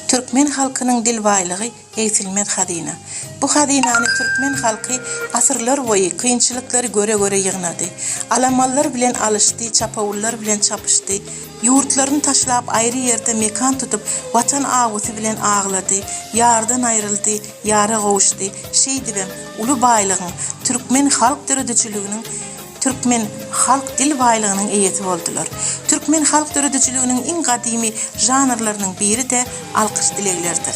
Türkmen halkynyň dil baýlygy egsilmez hazyna. Bu hazynany türkmen halky asyrlar boýy kynçylyklary göre-göre ýygnady. Alamanlar bilen alyşdy, çapawullar bilen çapyşdy. Ýurtlaryny taşlap aýry ýerde mekan tutup Watan awusy bilen aglady, ýardan aýryldy, ýara gowuşdy. Şeýdibem, uly baýlygyň, türkmen halk döredijiliginiň, Türkmen halk dil baýlygynyň eýesi boldular. Türkmen halk döredijiliginiň iň gadymy žanrlarynyň biri-de alkyş dileglerdir.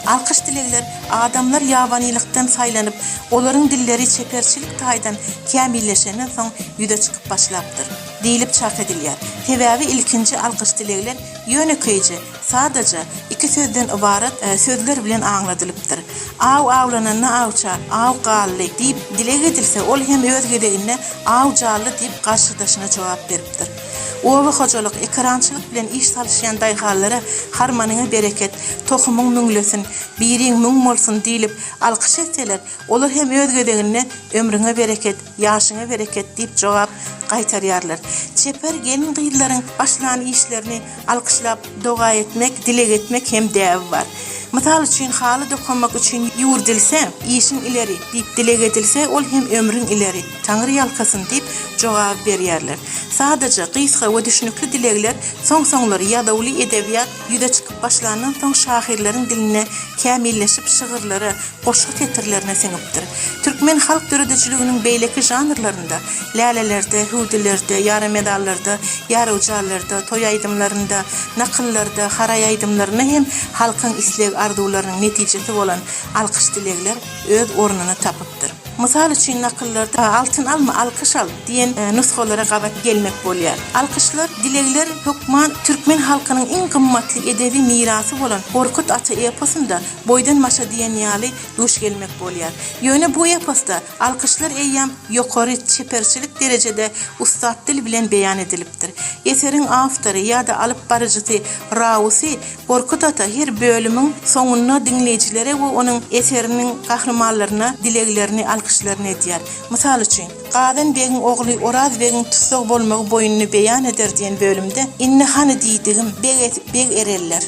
Alkyş dilegler adamlar ýabanylykdan saýlanyp, olaryň dilleri çeperçilik taýdan kämilleşenden soň ýüze çykyp başlapdyr, diýlip çak edilýär. Sebäbi ilkinji alkyş dilegler ýönekeýje Sadaja iki sözden ybarat sözler bilen aňladylypdyr. Aw awlananda awça, Aw gally! diýip dileg edilse, ol hem öz gezeginde Aw jally! diýip garşydaşyna jogap beripdir. Oba hojalyk, ekerançylyk bilen iş salyşýan daýhanlara Harmanyňa bereket, tohumyň müňlesin, biriň müň bolsun diýlip alkyş etseler, olar hem öz gezeginde Ömrüňe bereket, Ýaşyňa bereket diýip jogap gaýtarýarlar. Çeper gelin-gyzlaryň başlan işlerini alkyşlap doga etmek, dileg etmek hem däbi bar. Mysal üçin, haly dokamak üçin ýüwürdilse, Işiň ileri! diýip dileg edilse, ol hem Ömrüň ileri, Taňry ýalkasyn! diýip jogaby berýärler. Sadaja, gysga we düşnükli dilegler soň-soňlar ýazuwly edebiýat ýüze çykyp başlandan soň şahyrlaryň dilinde kämilleşip şygyrlara, goşgy setirlerine siňipdir. Türkmen halk döredijiliginiň beýleki žanrlarynda, lälelerde, hüwdülerde, ýarymedallarda, ýarygjallarda, toý aýdymlarynda, nakyllarda, haraý aýdymlarynda hem halkyň isleg-arzuwlarynyň netijesi bolan alkyş-dilegler öz ornuny tapypdyr. Mysal üçin, nakyllarda Altyn alma, alkyş al! diýen nusgalara gabat gelmek bolýar. Alkyşlar, dilegler hökman türkmen halkynyň iň gymmatly edebi mirasy bolan Gorkut ata eposynda Boýdan başa diýen ýaly duş gelmek bolýar. Ýöne bu eposda alkyşlar eýýäm ýokary çeperçilik derejede ussat dil bilen beýan edilipdir. Eseriň awtory ýa-da alyp baryjysy Rausy Gorkut ata her bölümiň soňunda diňleýjilere we onuň eseriniň gahrymanlaryna dileglerini, alkyşlaryny edýär. Mysal üçin, Gazan begiň ogly Oraz begiň tussag bolmagy boýuny beýan eder diýen bölümde Indi hany diýdigim, beg, beg ereller.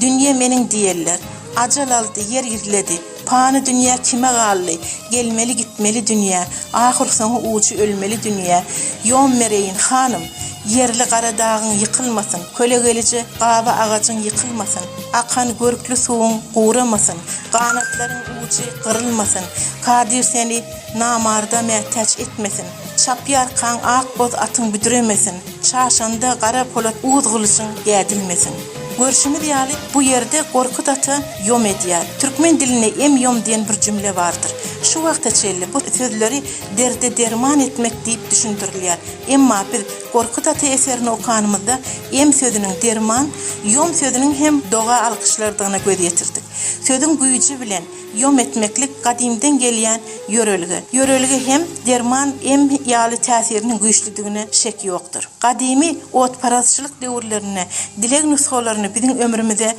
Dünýe meniň diýerler. Ajal aldy, ýer gizledi. Pany dünýä kime galdy? Gelmeli-gitmeli dünýä. Ahyrsoňy ujy ölmeli dünýä. Ýom bereýin, hanym! Ýerli gara dagyň ýykylmasyn, kölegelije gaba agajyň ýykylmasyn, akan görkli suwuň guramasyn, ganatlaryň ujy gyrylmasyn, kadyr seni namarda mätäç etmesin, çapýarkaň ak boz atyň büdremesin. Çaşanda gara polat uz gylyjyň dädilmesin. Görşümiz ýaly, bu ýerde Gorkut ata ýom edýär. Türkmen dilinde em ýom diýen bir jümle bardyr. Şu wagta çenli bu sözleri derde derman etmek diýip düşündirilýär. Emma biz Gorkut ata eserini okanymyzda em sözüniň derman, ýom sözüniň hem doga alkyşlardygyna göz ýetirdik. Sözüň güýji bilen. Ýom etmeklik gadymdan gelýän ýörelge. Ýörelge hem derman, em ýaly täsiriniň güýçlüdigine şek ýokdur. Gadymy otparazçylyk döwürlerinde dileg nusgalaryny biziň ömrümize,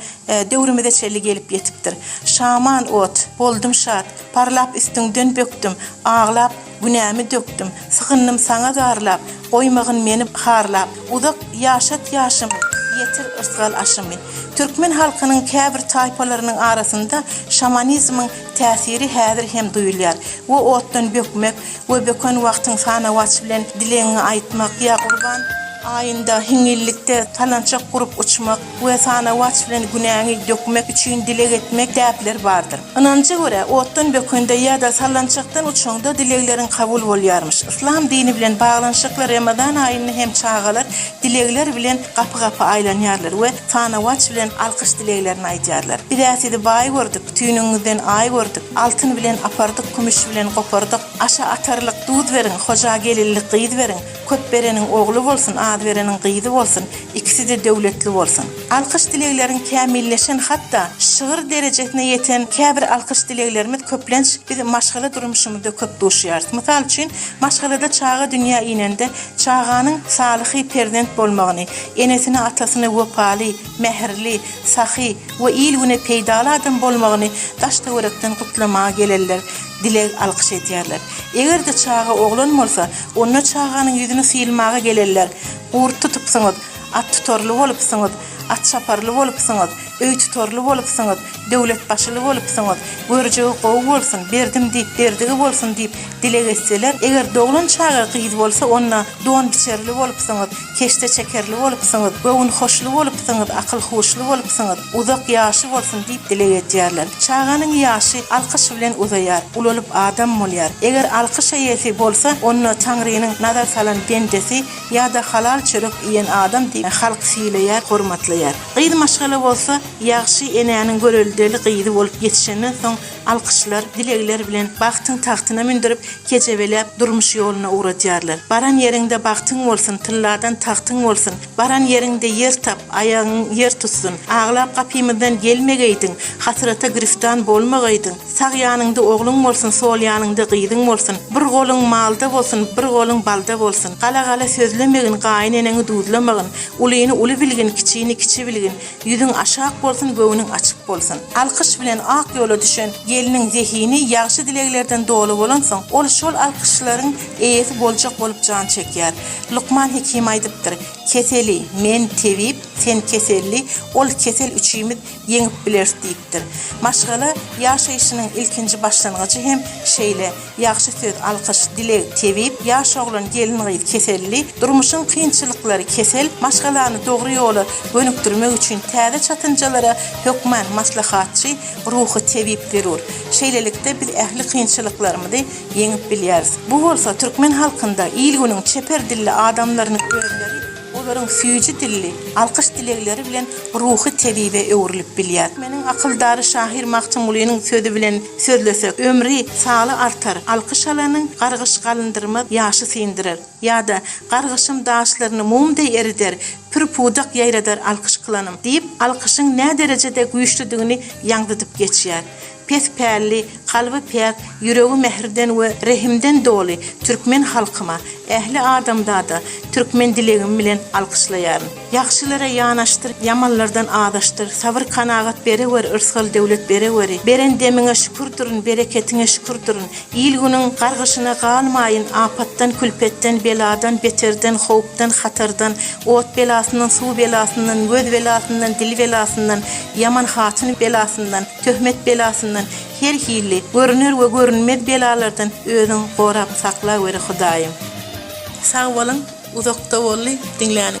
döwrümize çenli gelip ýetipdir. Şaman ot, Boldum şat, parlap üstüňden bökdüm, aglap, Günämi dökdüm, sygyndym saňa zarlap, Goýmagyn meni harlap, uzak ýaşat ýaşymy, Ýetir yrsgal aşymy. Türkmen halkynyň käbir taýpalarynyň arasynda şamanizmiň täsiri häzir hem duýulýar we otdan bökmek we böken wagtyň sanawaç bilen dilegiňi aýtmak ýa Gurban aýynda hiňňillikde talançak gurup uçmak, we sanawaç bilen günäňi dökmek üçin dileg etmek däpleri bardyr. Ynanja görä, otdan bökende ýa-da sallançakdan uçaňda dilegleriň kabul bolýarmyş. Yslam dini bilen baglanyşykly Remezan aýynda hem çagalar dilegler bilen gapy-gapa aýlanýarlar we sanawaç bilen alkyş dileglerini aýdýarlar. Biz-ä sizi baý gördük, tüýnüňiňizden aý gördük, altyn bilen apardyk, kümüş bilen gopardyk, aşa atarlyk duz beriň, hoja gelinlik gyz beriň, Köp bereniň ogly bolsun, az bereniň gyzy bolsun, ikisi-de döwletli bolsun. Alkyş-dilegleriň kämilleşen, hatda şygyr derejesine ýeten käbir alkyş-dileglerimiz köplenç biz maşgala durmuşymyzda köp duşýarys. Mysal üçin, maşgalada çaga dünýä inende, çaganyň salyhy perzent bolmagyny, enesine-atasyna wepaly, mähirli, sahy we il-güne peýdaly adam bolmagyny daş-töwerekden gutlamaga gelerler. dileg alkyş edýärler. Eger-de çaga oglan bolsa, onda çaganyň ýüzüni syýylmaga gelenler, Gurt tutupsyňyz, at tutarly bolupsyňyz, at çaparly bolupsyňyz, öý tutarly bolupsyňyz, döwlet başyly bolupsyňyz, görjegi gowy bolsun, berdim diýip berdigi bolsun diýip dileg etseler, eger doglan çaga gyz bolsa, onda don biçerli bolupsyňyz, Keşdeçekerli bolupsyňyz, göwünhoşly bolupsyňyz, akyl-huşly bolupsyňyz, uzak ýaşy bolsun diýip dileg edýärler. Çaganyň ýaşy alkyş bilen uzaýar, ulalyp adam bolýar. Eger alkyş eýesi bolsa, onda Taňrynyň nazar salan bendesi ýa-da halal çörek iýen adam diýip, halk sylaýar, hormatlaýar. Gyz maşgala bolsa, ýagşy enäniň göreldeli gyzy bolup ýetişenden soň, Alkyşlar, dilegler bilen bagtyň tagtyna mündürip, kejebelep, durmuş ýoluna ugradýarlar. Baran ýeriňde bagtyň bolsun, tylladan tagtyň bolsun! Baran ýeriňde ýer tap, aýagyň ýer tutsun! Aglap gapymyzdan gelmegeýdiň, hasrata giriftan bolmagaýdyň! Sag ýanyňda ogluň bolsun, sol ýanyňda gyzyň bolsun! Bir goluň malda bolsun, bir goluň balda bolsun! Gala-gala sözlemegin, gaýyn eneňi duzlamagyn! Ulyny uly bilgin, kiçini kiçi bilgin! Ýüzüň aşak bolsun göwnüň açyk bolsun. Alkyş bilen ak ýola düşen gelniň zehini ýagşy dileglerden doly bolansoň, ol şol alkyşlaryň eýesi boljak bolup jan çekýär. Lukman Hekim aýdypdyr, Keseli, men, tebip, sen, keselli, ol, kesel, üçimiz ýeňip bileris diýipdir. Maşgala ýaşaýşynyň ilkinji başlangyjy hem şeýle. Ýagşy söz, alkyş, dileg, tebip, ýaş oglan, gelin-gyz, keselli, durmuşyň kynçylyklary, kesel, maşgalany dogry ýola gönükdirmek üçin täze çatynjalara hökmän maslahatçy, ruhy tebip zerur. Şeýlelikde, biz ähli kynçylyklarymyzy ýeňip bilýäris. Bu bolsa türkmen halkynda il-günüň çeper dilli adamlarynyň özleri, Olaryň süýji dilli, alkyş dilegleri bilen ruhy tebibe öwrülip bilýär. Meniň akyldar şahyr Magtymgulynyň sözi bilen sözlesek, ömri, saly artar, alkyş alanyň, gargyş galyndyr-maz, ýaşy syndyrar. Ýa-da, Gargyşym daşlaryny mum deý erider, pür-pudak ýaýradar alkyş kylanym, diýip, alkyşyň näderejede güýçlüdigini ýaňzydyp geçýär. Pes pälli, kalby päk, ýüregi mähirden we rehimden doly türkmen halkyma, ähli adamzada türkmen dilegim bilen alkyşlaýaryn. Ýagşylara ýanaşdyr, ýamanlardan azaşdyr, sabyr-kanagat berewer, yrsgal-döwlet berewery, beren demiňe şükür durun, bereketiňe şükür durun, il-günüň gargyşyna galmaýyn, apatdan-külpetden, beladan, beterden, howpdan, hatardan, ot belasyndan, suw belasyndan, göz belasyndan, dil belasyndan, ýaman hatyn belasyndan, Töhmet belasyndan her hilli görüner we görünmez belalardan özüň gorap saklaweri Hudaýym. Sag boluň uzakda bolly diňläniň.